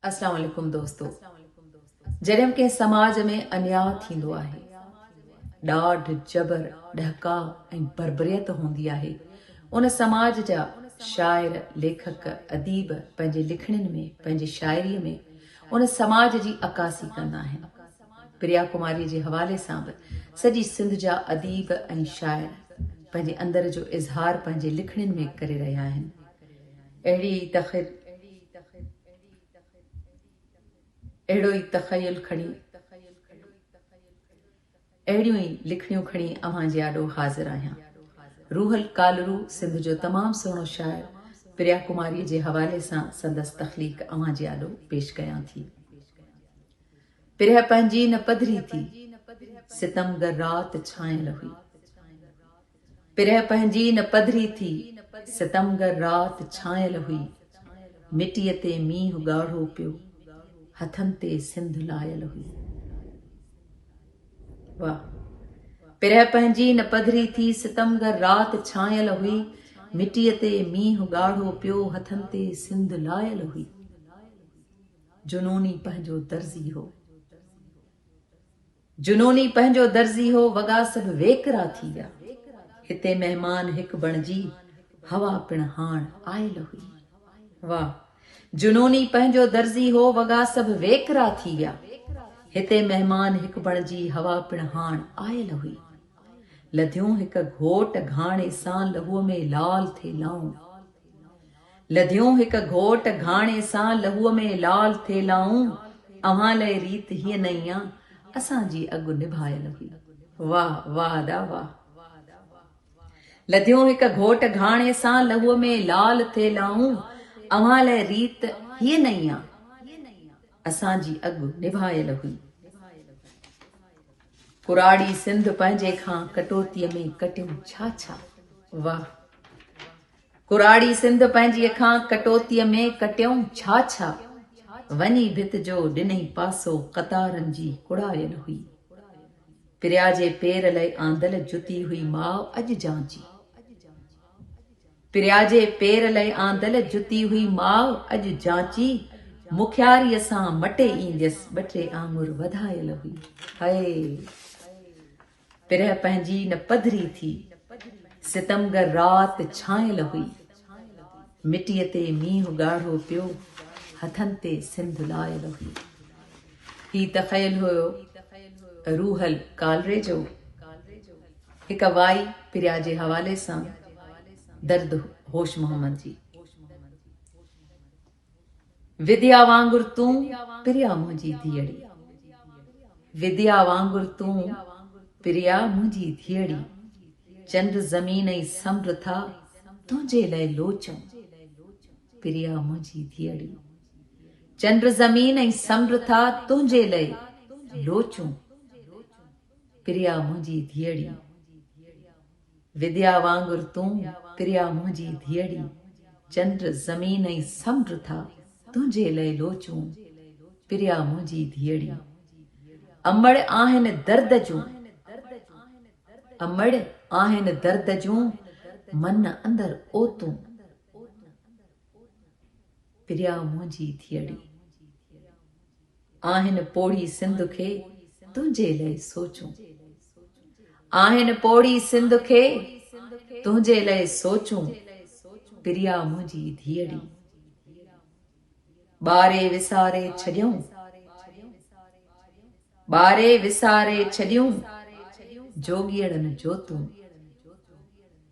اسلام عليڪم دوستو جڏھن ڪنھن سماج ۾ انياء ٿيندو آھي ڏاڍ جبر ڏھڪاء ۽ بربريت ھوندي آھي ان سماج جا شاعر ليکڪ اديب پنھنجي لکڻين ۾ پنھنجي شاعري ۾ ان سماج جي عڪاسي ڪندا آھن پريا ڪماري جي حوالي سان به سڄي سنڌ جا اديب ۽ شاعر پنھنجي اندر جو اظھار پنھنجي لکڻين ۾ ڪري رھيا آھن اهڙي ئي تخيل اهڙو ئي تخيل کڻي اهڙيون ئي لکڻيون کڻي اوهان جي آڏو حاضر آهيان. روحل ڪالرو سنڌ جو تمام سهڻو شاعر پريا ڪماري جي حوالي سان سندس تخليق اوهان جي آڏو پيش ڪيان ٿي. پريا پنهنجي نه پڌري ٿي، ستمگر رات ڇانيل هئي. پرهه پنهنجي نه پڌري ٿي، ستمگر رات ڇانيل هئي، مٽيء تي مينهن ڳاڙهو پيو، هٿن تي سنڌ لايل هئي. واهه. پرهه پنهنجي نه پڌري ٿي، ستمگر رات ڇانيل هئي، مٽيء تي مينهن ڳاڙهو پيو، هٿن تي سنڌ لايل هئي. جنوني پنهنجو درزي هو. جنوني پنهنجو درزي هو، وڳا سڀ ويڪرا ٿي ويا. هتي مهمان هڪ بڻجي، هوا پڻ هاڻ آيل هئي. واء! جنوني پنهنجو درزي هو، وڳا سڀ ويڪرا ٿي ويا. هتي مهمان هڪ بڻجي، هوا پڻ هاڻ آيل هئي. لڌيون هڪ گهوٽ گهاڻي سان، لهوء ۾ لال ٿي لائون. لڌيون هڪ گهوٽ گهاڻي سان لهوء ۾ لال ٿيلائون، اوهان لئه ريت هيء نئين آ، اسان جي اڳ نڀايل هئي. واهه واهه ادا واهه. لڌيون هڪ گهوٽ گهاڻي سان لهوء ۾ لال ٿيلائون، اوهان لئه ريت هيء نئين آ، اسان جي اڳ نڀايل هئي. ڪراڙي سنڌ پنهنجي کان ڪٽوتيء ۾ ڪٽيم ڇا ڇا. واهه. ڪراڙي سنڌ پنهنجي اکان ڪٽوتيء ۾ ڪٽيئون ڇا ڇا؟ وڃي ڀت جو ڏنئي پاسو قطارن جي ڪڙايل هئي. پريا جي پير لئه آندل جتي هئي ماء اڄ جان جي. پريا جي پير لئه آندل جتي هئي ماء اڄ جانچي مکياريء سان مٽي اينديس ٻه ٽي آڱر وڌايل هئي. هيء! پرهه پنهنجي نه پڌري ٿي، ستمگر رات ڇانيل هئي. مٽيء تي مينهن ڳاڙهو پيو، هٿن تي سنڌ لايل هئي. هي تخيل هيو روحل ڪالري جو. هڪ وائي پريا جي حوالي سان درد هوش محمد جي. وديا وانگر تون پريا منهنجي ڌيئڙي. وديا وانگر تون پريا منهنجي ڌيئڙي. چنڊ زمين ۽ سمنڊ ٿا تنهنجي لئه لوچن. پريا منهنجي ڌيئڙي. چنڊ زمين ۽ سمنڊ ٿا تنهنجي لئه لوچن. پريا منهنجي ڌيئڙي. وديا وانگر تون پريا منهنجي ڌيئڙي، چنڊ، زمين ۽ سمنڊ ٿا تنهنجي لئه لوچون، پريا منهنجي ڌيئڙي. امڙ آهن درد جون، امڙ آهن درد جون، من اندر اوتون، پريا منهنجي ڌيئڙي. آهن پوڙهي سنڌ کي تنهنجي لئه سوچون، آهن پوڙهي سنڌ کي تنهنجي لئه سوچون پريا منهنجي ڌيئڙي ٻاري وساري ڇڏيون ٻاري وساري ڇڏيون جوڳيئڙن جوتون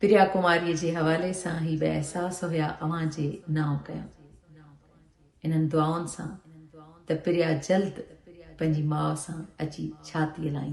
پريا ڪماري جي حوالي سان هي به احساس هيا اوهان جي نانء ڪيون انهن دعائن سان ته پريا جلد پنهنجي ماء سان اچي ڇاتي لائيندي.